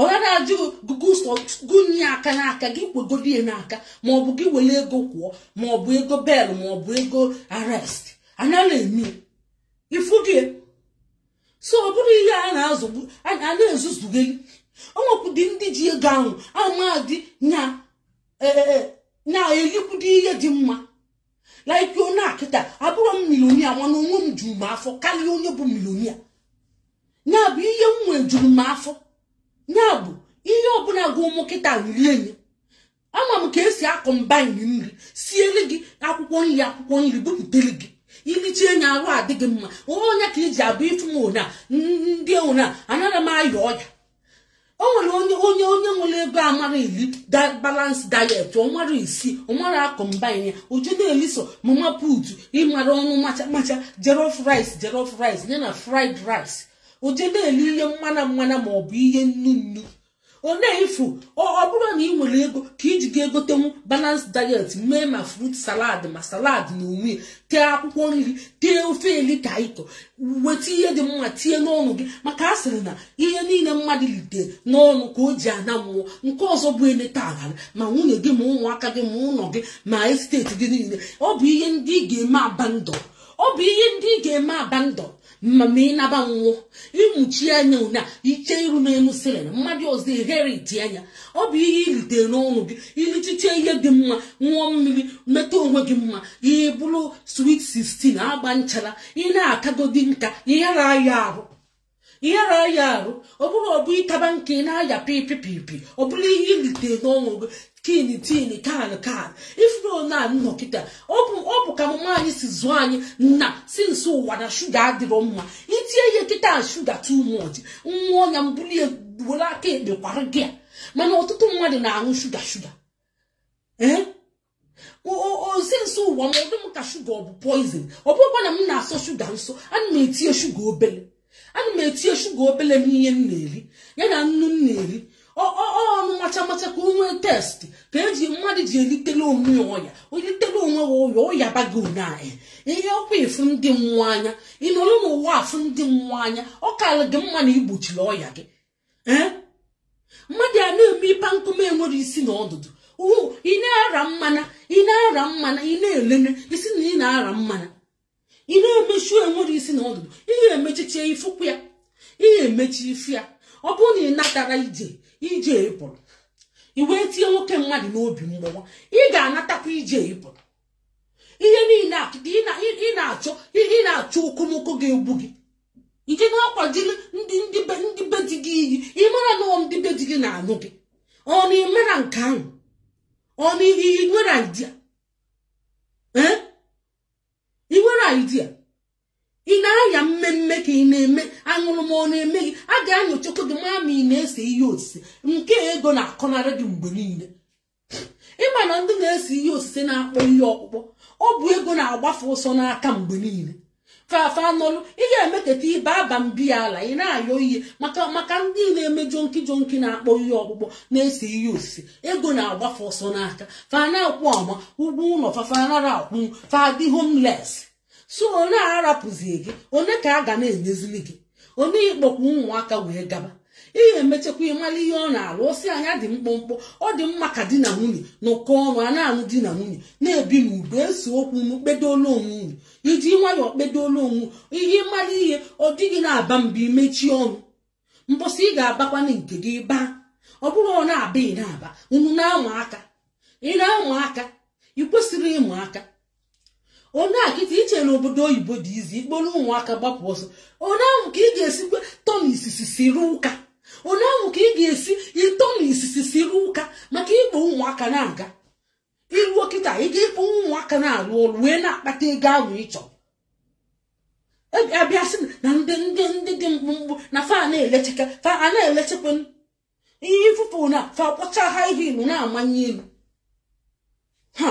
ọghara ajụ gụnye ya aka n'aka gị kwegodi ya n'aka maọbụ gị were ego kwụọ maọbụ ego bail maọbụ ego arrest anala eme ifu gị so ọ bụrụ ihe a na-azụgbu a na-ezuzugheli o nwekwudị ndị ji ego ahụ amadị na-elikwudi ihe dị mma like onye akịta abụrọ m millionaire mana onwe m juru m afọ karịa onye bụ millionaire ya bụ ihe m nwee juru m afọ ya bụ ihe ọbụla gụọ mụ kịta m rie nya ama m ka e si a-combine nri siere gị akwụkwọ nri akwụkwọ nri bupụtere gị i lichaa nya arụ adị gị mma ọ nya ka i ji afụ ifu m ona ndị ona anaghị m aya ọya o nwere onye onye onye nwere ego amara iri balance diet ọ mara isi ọ mara a-combine o je na-eli sọ mama put ị mara ọnụ macha macha jollof rice jollof rice ya na fried rice o je na-eli ihe mmana mmana ma ọ bụ ihe nnu nnu ọ na-efu ọ bụrọ na ị nwere ego ka i ji ga-egotenwu balance diet mee ma fruit salad ma salad n'onwe ya tee akwụkwọ nri tee ofe elikaito weta ihe dị mma tinye n'ọnụ gị maka a sịrị na ihe niile mmadụ lite n'ọnụ ka o ji ana mmụọ nke ọzọ bụ eleta aghara ma nwunye gị ma ụmụaka gị ma ụlọ gị ma esteti gị niile ọ bụ ihe ndị ị ga-eme abandon ọ bụ ihe ndị ị ga-eme abandon ma ma ị naba mmụọ ị mụchie anya ụna i chee iru n'elu ceiling mmadụ ọzọ e-inherit nya ọ bụ ihe i lite n'ọnụ gị ilichiche ihe dị mma ṅụọ mmiri meta onwe gị mma ị bụrụ sweet 16 agba nchara ị na-akagodi nka ị yara aya ahụ ị yara aya ahụ ọ bụrọ ọ bụ ị kaba nka ị na-aya BP BP ọ bụrụ ihe i lite n'ọnụ gị tin tin kan kan ị fụrụ na m nọ kịta ọ bụ ọ bụ ka mama anyị si zụọ anyị na since ụwa na shuga adịrọ mma i tinye ihe kịta shuga too much nwa ọnya m bulie were aka ekpe kwara gị ya mana ọtụtụ mmadụ na-aṅụ shuga shuga ee since ụwa ma ọ dị m ka shuga ọ bụ poison ọ bụrọkwa na m na-asọ shuga nso ana m etinye shuga obele ana m etinye shuga obele n'ihe m na-eri ya na nnu m na-eri ọnụ macha macha ka o nwee taste ka e ji mmadụ ji elitere onwe ya ọya o litere onwe ya ọya ọya bago na ihe ọkwa ịfụ ndị mmụọ anya ị nọrọ n'ụwa afụ ndị mmụọ anya ọ kara gị mma na i gbochiri ọya gị ee mmadụ a na-eme ịpa nkụma enwere isi na ọdụdụ ị na-ara mmana ị na-ara mmana ị na-eleme isi na ị na-ara mmana ị na-emechu enwere isi na ọdụdụ ihe emechichie ifụkwa ya ihe emechi ife ya ọ bụrụ na ị natara ije ije ị pụrụ i wee tinye nwoke mmadụ n'obi mgbawa ị ga-anatakwa ije ị pụrụ ihe niile ị na-achọ ị na-achọ okomoko ga-egbu gị ike na-akwajiri ndị ndị be di gị iyi ị mara na ọ ndị be di gị na-anụ gị ọ na i mera nke ahụ ọ na ị nwere idea ee ị nwere idea ị na-aya mmemme ka ị na-eme aṅụrụma ọ na-eme gị a ga-anyochakwa gị ma ma ị na-ese ihe osise nke ego na-akọnarị gị mgbe niile ị ma na ndị na-ese ihe osise na-akpọ ihe ọkpụkpọ ọ bụ ego na-agba fa ọsọ n'aka mgbe niile fa anọlụ ị ga-emeketa ibe aba mbi ya ala ị na-ayọ ihe maka maka ndị na-eme junkie junkie na-akpọ ihe ọkpụkpọ na-ese ihe osise ego na-agba fa ọsọ n'aka fa na-akwụ ọma ụgwọ ụlọ fa fa anara akwụ fa adị homeless so onye arapụzie gị onye ka a ga na-enyezili gị onye ị kpọkwa ụmụaka wee gaba ihe emechakwa ị mara ihe ọ na-alụ ọ sị anyị dị mkpụmkpụ ọ dị mma ka di na nwunye nọkọ ọnụ a na-anụ di na nwunye na-ebi n'udo e see okwu unu kpedola onwe unu iji nwayọọ kpedola onwe ihe ị mara ihe ọ di gị na-aba mba i mechie ọnụ mbọsị ị ga-abakwana nke gị baa ọ bụrụ ọ na-aba ị na-aba unu na-ama aka ị na-ama aka ị kwesịrị ịma aka ọ na kịta i che na obodo oyibo dị easy i kporo ụmụaka gbapụ ọsọ onye ahụ ka ị ga-esikwa tọ na isisi siri ụka onye ahụ ka ị ga-esi ịtọ na isisi siri ụka maka ịkpọ ụmụaka na-aga i ruo kịta ị ga-ekpo ụmụaka na-arụ ọrụ wee na-akpata ego ahụ ị chọrọ a bịa sị na ndị ndị ndị dị mkpụmkpụ na fa na-elechekwa fa a na-elechekwa ihe ifufe na fa kpọcha ha ihe ilu na-amanye ilu ha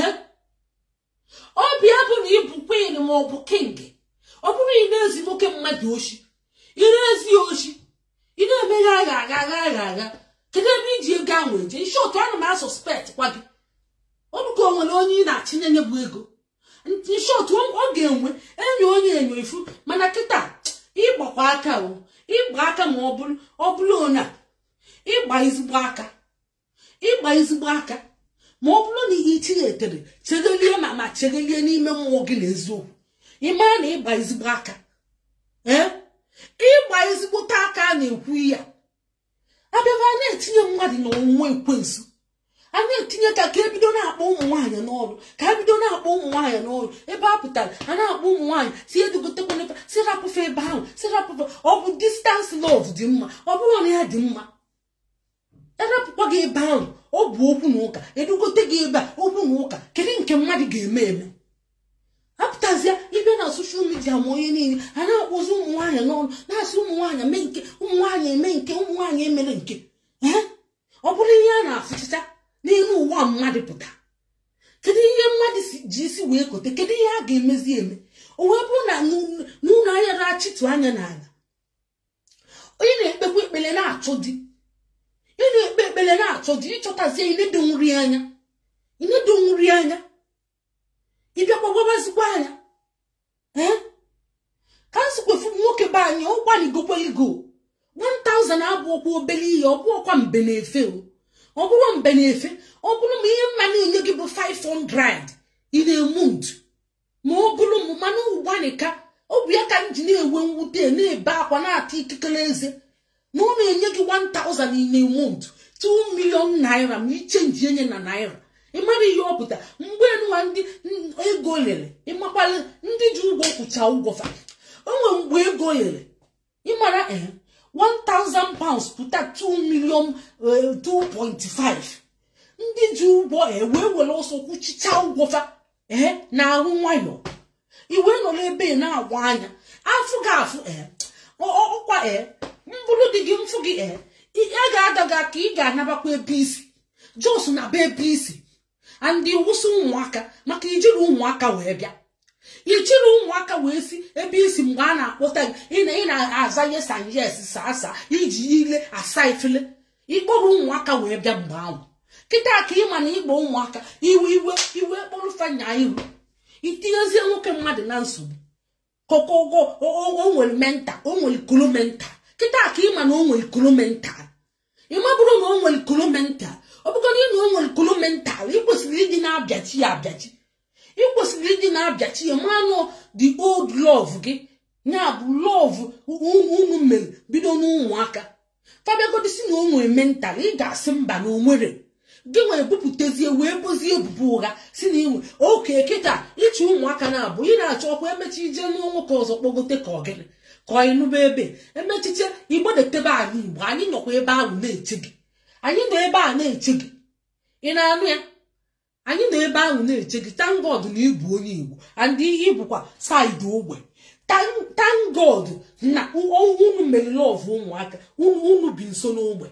eh? ọ bịa bụ na ị bụ queen ma ọ bụ king ọ bụrụ ị na-ezi nwoke mmadụ oshi ị na-ezi oshi ị na-eme ha ha ha ha ha kedu ebe i ji ego ahụ eje in short ana m a-suspect kwa gị ọ bụ ka o nwere onye ị na-achị na-enye bụ ego in short ọ ga-enwe enyo onye enyo ị fụ mana kịta ị gbakwa aka o ị gba aka ma ọ bụrụ ọ bụrụ na ị gba ezigbo aka ị gba ezigbo aka ma ọ bụrụ na ihe ichigha etere chegelie ma ma chegelie n'ime mmụọ gị na eziokwu ị mara na ị gba ezigbo aka ee ị gba ezigbote aka a na-ekwu ya a bịaba a na-etinye mmadụ na ọnwụnwa ekwensu a na-etinye ka ka e bido na-akpọ ụmụ nwaanyị n'ọrụ ka e bido na-akpọ ụmụ nwaanyị n'ọrụ ebe a pụtara a na-akpọ ụmụ nwaanyị sị edugotekwana sị rapụ fa ebe ahụ sị rapụ fa ọ bụ distance love dị mma ọ bụrụ na ya dị mma arapụkwa gị ebe ahụ ọ bụ okwu na ụka edugote gị ebe a okwu na ụka kedu nke mmadụ ga-eme eme apụtazịa ibe na soshal midia ma onye niile a na-akpọzi ụmụ nwaanyị n'ọnụ na-asị ụmụ nwaanyị mee nke ụmụ nwaanyị eme nke ụmụ nwaanyị emere nke ee ọ bụrụ ihe a na-afụchicha n'elu ụwa mmadụ pụta kedu ihe mmadụ si- ji isi wee kote kedu ihe a ga-emezi eme o wee bụrụ na n'ụlọ anya na-achịtụ anya n'ala onye na-ekpekwa ekpele na-achọ di ị na-ekpe ekpele na-achọ di ịchọtazie inedo nri anya inedo nri anya ịbịakwa gwabazikwa anyị ee ka m sikwefu nwoke be anyị ọ gbanịgokweligo 1000 abụrọkwa obere ihe ọ bụrọkwa mbe na-efe o ọ bụrọ mbe na-efe ọ bụrụ m ihe m ma na-enye gị bụ 500 in a month ma ọ bụrụ m mana ọ gbanịka ọ bụ ya ka m ji na-ewe mwute na-ebe akwa na-ata ikikere eze na ọ na-enye gị 1000 in a month 2 million naira ma ị chenjie nya na naira ịmara ihe ọ pụta mgbe nwa ndị ego lere ịmakwa na ndị ji ụgwọ kwụcha ụgwọ fa o nwere mgbe ego lere ịmara eh, 1000 pounds pụta 2 million 2.5 eh, ndị ji ụgwọ eh, wee were ọsọ kwụchicha ụgwọ fa ee na-arụ nwayọ i wee nọrọ ebe na-agwa anya afụ gị afụ ee ọkwa ee m bụrụ di gị m fụ gị ee agadaga ka ị ga-anabakwa ebe i si just naba ebe i si and ị wụsa ụmụaka maka i jirọ ụmụaka wee bịa i jirọ ụmụaka wee si ebe i si mgbe a na-akpọta gị ị na-aza yes sir yes sir sir iji ile asa efele ịkpọrọ ụmụaka wee bịa mgbe ahụ kịta ka ịma na ịgba ụmụaka i wee i wee i wee kpọrọ fa nya ihu itinyezie nwoke mmadụ na nsogbu kokogo o nwere mental o nwere kolo mental kịta ka ịma na o nwere kolo mental ịmabụrọ na o nwere kolo mental ọ bụgodị na o nwere kolo mental ị kwesịrị ịdị na-abịachi ya abịachi ị kwesịrị ịdị na-abịachi ya manụ the old love gị ya bụ love unu mere bido n'ụmụaka fa bịagodi sị na o nwere mental ị ga-asị mba na o nwerọ gị wee bupụtezie wee bozie ebubo ụgha sị na inwe oke kịta ị chị ụmụaka naba o ị na-achọ ọkwa emechi ije n'ụlọ nwoke ọzọ kpọgote ka ọ gịnị ka ọ ị nọba ebe emechicha ị gbadata be anyị Igbo anyị nọkwa ebe ahụ na-eche gị anyị nọ ebe a na-eche gị ị na-anụ ya anyị nọ ebe ahụ na-eche gị thank God na ịbụ onye Igbo and ị ịbụkwa side ogbe thank God na unu mere love ụmụaka unu bi nso n'ogbe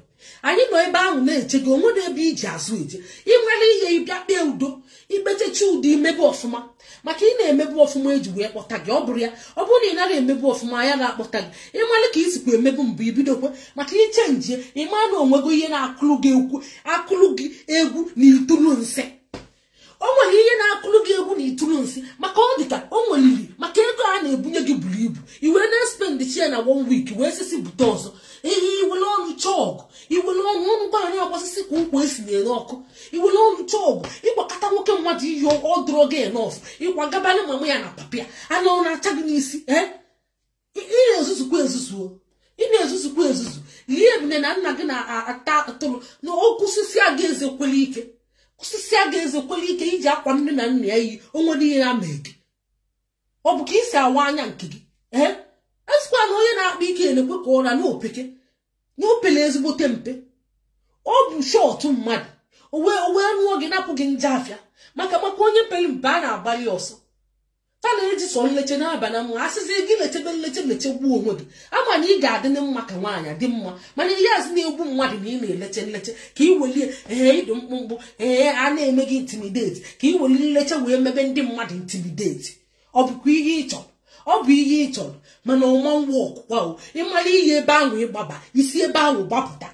anyị nọ ebe ahụ na-eche gị onwerọ ebe iji azụ eje ị mara ihe ịbịa kpee udo ikpechicha udo imebe ọfụma maka ị na-emebu ọfụma eji wee kpọta gị ọ bụrụ ya ọ bụrụ na ị nara emebu ọfụma ayara akpọta gị ịmalụ ka isikwa emebu mbụ ibidokwa maka ị chenjie ịma na onwego ihe na-akụlụ gị egwu na itulu nsị o nwere ihe na-akụlụ gị egwu na itulu nsị maka ọ dịka o nweliri maka ego a na-ebunye gị buru ibu i wee na-espendịcha ya na one week wee sisi bute ọzọ ihe iwere ọnụ chọọ ọgụ iwere ọnụ ọnụ gwa anyị agbasịsị ka ụkwụ esi na-ere ọkụ iwere ọnụ chọọ ọgụ ịkwakata nwoke mmadụ iyi ọ dụrọ gị enough ịkwagaba na mama ya na papa ya ala ọ na-acha gị n'isi ee ị na-ezuzukwa ezuzu ị na-ezuzukwa ezuzu lie ebune na nna gị na-ata atụrụ na ọ kwụsịsịa gị eze kwele ike kwụsịsịa gị eze kwele ike iji akwa nne na nna ya iyi o nwere ihe ya mee gị ọ bụ ka ị si awa anya nke gị ee asịkwa na onye na-akpa ike elekwe ka ọ ra na o peke na o pele ezigbote mpe ọ bụ short mmadụ o wee nụọ gị napụ gị nje afịa maka maka onye pere mpe a na-agbalụ ọsọ fa na-eji sọ nleche na-aba na mma asịzi gị lechebe nleche lechegbuo onwe gị ama na ị ga-adị na mma ka nwaanyị dị mma mana ihe azụ na-egbu mmadụ na ị na-eleche nleche ka ị welie ee ịdụ mkpụmkpụ ee a na-eme gị intimidate ka ị weli nleche wee mebe ndị mmadụ intimidate ọ bụkwa ihe ị chọrọ ọ bụ ihe ị chọrọ mana ọ ma workụkwa o ịmara ihe ebe ahụ ịgbaba isi ebe ahụ gbapụta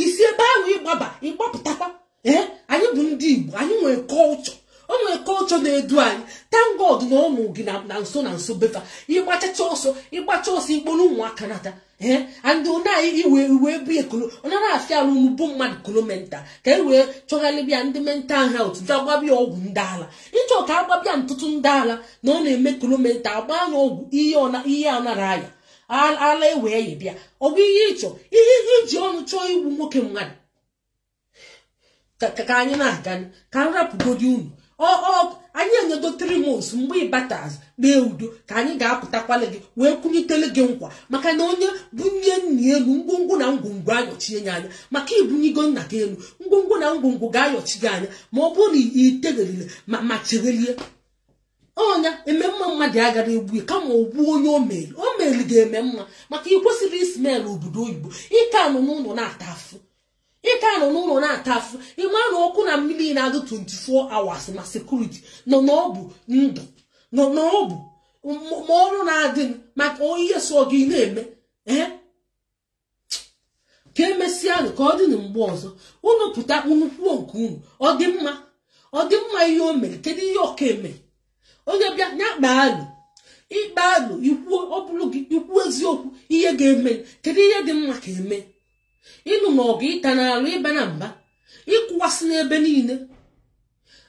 isi ebe ahụ ịgbaba ịgbapụtakwa ee anyị bụ ndị igbo anyị nwere culture o nwere culture na-edu anyị thank God na ọnụ gị na na nso na nso befa ịgbachacha ọsọ ịgbacha ọsọ ịkpọrọ ụmụaka nata ee andị onye anyị iwe iwe bụ ekolo onye na-afịa arụ unu bụ mmadụ kolo mental ka e wee chọgharịbịa ndị mental health bịa gbaba ya ọgwụ ndị ala ịchọ ka agbaba ya ntụtụ ndị ala na ọ na-eme kolo mental gbaa n'ọgwụ ihe ọ na- ihe anara aya ala e wee ya bịa ọ bụ ihe ịchọ ihe iji ọnụ chọọ igbu nwoke mmadụ ka anyị na-aga ka m rapụgodi unu anyị enyedo three months mgbe ịbatazi kpee udo ka anyị ga-apụtakwala gị wee kụnyitele gị nkwa maka na onye bunye nna ya enu ngwongwo na ngwongwo ayọchie ya anya maka ibunyigo nna gị enu ngwongwo na ngwongwo ga-ayọchi gị anya ma ọ bụrụ na iteghịrịle ma cheghelie ọnya eme mma mmadụ agara egbu ya kama ogbu onye omeli omeli ga-eme mma maka ị kwesịrị ịsmelụ obodo oyibo ịka anọ n'ụlọ na-ata afụ ịka anọ n'ụlọ na-ata afụ ịma na ọkụ na mmiri na-adụ 24 hours ma security nọ na ọ bụ ndụ nọ na ọ bụ ma ọrụ na-adị maka ihe sọ gị na-eme ee ka emesịa nụ ka ọ dị na mgbe ọzọ unu pụta unu kwuo nke unu ọ dị mma ọ dị mma ihe o mere kedu ihe ọ ka eme onye bịa ya kpaa alụ ị kpaa alụ ikwuo ọ bụrụ gị i kwuo eziokwu ihe ga-eme kedu ihe dị mma ka eme ịnụ na ọgụ ịta n'alụ ịba na mba ịkụwasị n'ebe niile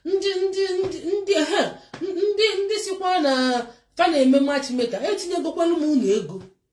ndị ndị ndị ndị ha ndị ndị sikwa na fa na-eme matchmaker etinyegokwalụ m unu ego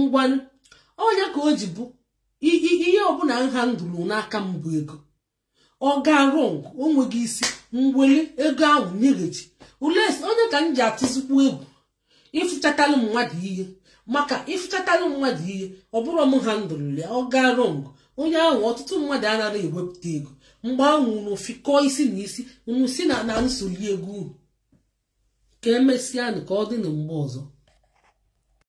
ngwanụ ọ nya ka o ji bụ ihe ọbụla m handlerụ n'aka m bụ ego ọ gaa wrong o nweghị isi m weli ego ahụ nyeghachi unless ọ nya ka m ji atụzikwu egwu ịfụchatalụ mmadụ ihe maka ịfụchatalụ mmadụ ihe ọ bụrụ m handlerụ ya ọ gaa wrong onye ahụ ọtụtụ mmadụ anaghị ewepụta ego mgbe ahụ unu fikọọ isi na isi unu si na na m soli ego unu ka emesịa nụ ka ọ dị na mgbe ọzọ